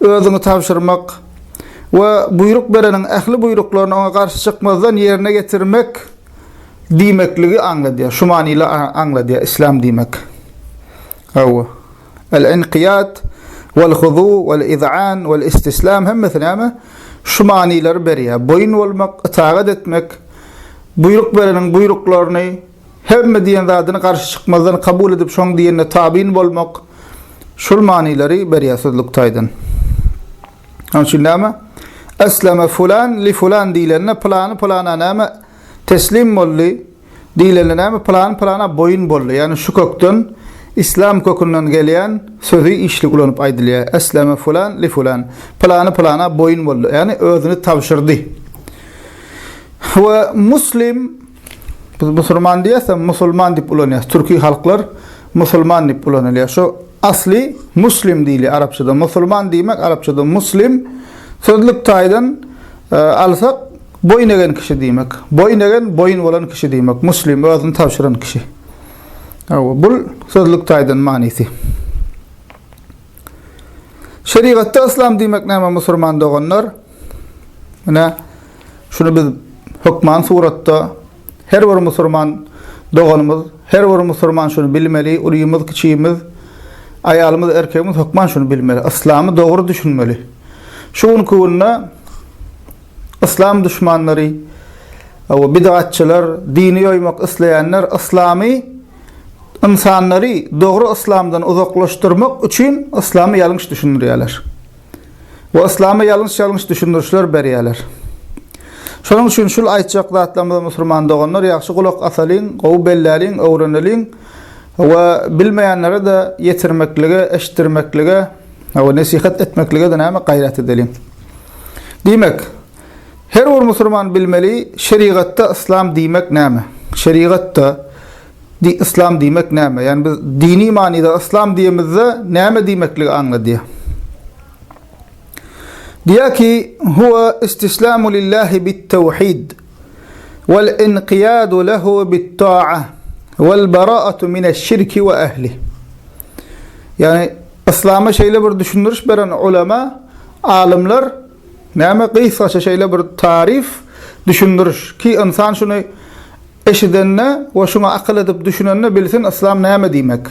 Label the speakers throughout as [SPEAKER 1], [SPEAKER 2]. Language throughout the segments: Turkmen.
[SPEAKER 1] özüňi tabşyrmak we buýruk bereniň ähli buýruklaryny oňa garşy çykmazdan ýerine ýetirmek diýmekligi aňladýar. Şu manyly aňladýar Islâm diýmek. Hawa. El-inqiyat wel-huzu wel-iz'an wel-istislam hemmesi näme? Şu manylary berýär. Boýun bolmak, itagat etmek, buýruk bereniň buýruklaryny Hemme diýen zadyny garşy çykmazdan kabul edip şoň diýenine tabyn bolmak şul manylary berýär sözlük taýdan. Şoň üçin näme? Esleme fulan li fulan diýlende pylany pylana näme teslim boldy diýlende näme pylany pylana boýun boldy ýagny şu kökden islam kökünden gelýän sözi işli ulanyp aýdylýar esleme fulan li fulan pylany pylana boýun boldy ýagny özüni tabşyrdy we muslim Biz musurman diýesem, musulman diýip ulanýas. Türki halklar musulman diýip ulanylýar. Şu asly muslim diýilýär arapçada. Musulman diýmek arapçada muslim. Sözlük taýdan e, alsak boýun egen kişi diýmek. Boýun egen boýun bolan kişi diýmek. Muslim özüni tabşyran kişi. Awa, bul sözlük taýdan manysy. Şerigatda islam diýmek näme musulman doganlar? Mine Şuny biz hökman suratda her bir musurman doganymyz, her bir musurman şuny bilmeli, ulymyz, kiçimiz, aýalymyz, erkegimiz hökman şuny bilmeli, yslamy dogry düşünmeli. Şu günki günde yslam duşmanlary we bidgatçylar, dini ýoýmak isleýänler yslamy ynsanlary dogry yslamdan uzaklaşdyrmak üçin yslamy ýalňyş düşündirýärler. we yslama ýalňyş-ýalňyş düşündirişler berýärler. Şonuň üçin şul aýtjak zatlarymyzy musulman doganlar ýagşy gulak asalyň, gowy belläliň, öwreneliň we bilmeýänlere-de ýetirmeklige, eşitdirmeklige we nesihat etmeklige-de näme, gaýrat edeliň. Diýmek, her bir musulman bilmeli, şerigatda yslam diýmek näme? Şerigatda. Di yslam diýmek näme? Ýani biz dini manyda yslam diýemizde näme diýmekligi aňladýar? Diýär ki, huwa istislamu lillahi bit tawhid wal inqiyadu lehu bit ta'a wal bara'atu min eş-şirki we ehli. Ýani islama şeýle bir düşündiriş beren ulema, alymlar näme gysgaça şeýle bir tarif düşündiriş ki, insan şuny Eşidende we şuňa akyl edip düşünende bilsin yslam näme diýmek.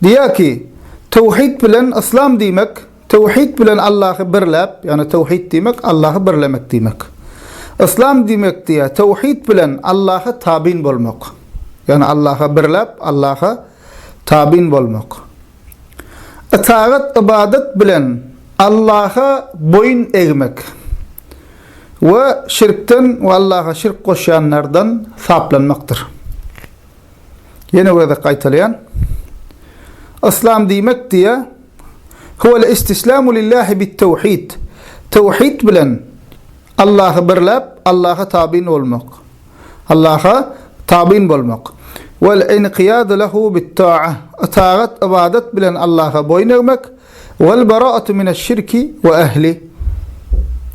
[SPEAKER 1] Diýýär ki, Töwhid bilen yslam diýmek, töwhid bilen Allahy birläp, ýagny töwhid diýmek Allahy birlemek diýmek. Yslam diýmek diýýär, töwhid bilen Allaha tabyn bolmak. Ýagny Allaha birläp, Allaha tabyn bolmak. Ytagat, ybadat bilen Allaha boýun egmek we şirkden we Allaha şirk goşýanlardan saplanmakdyr. Ýene gezek gaýtalaýan. Yslam diýmek diýýä, Huwel istislamu lillahi bit tewhid. Tewhid bilen Allahy birläp, Allaha tabyn bolmak. Allaha tabyn bolmak, wal inqiyadu lehu bit ta'a, itagat, ybadat, bilen Allaha boýun egmek, wal bara'atu mineş şirki we ehli,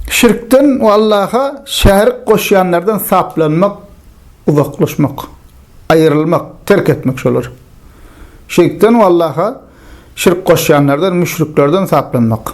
[SPEAKER 1] şirkden we Allaha şärik goşýanlardan saplanmak, uzaklaşmak, aýrylmak, terk etmek şolary. Şirkden we Allaha şirk goşýanlardan, müşriklerden saplanmak.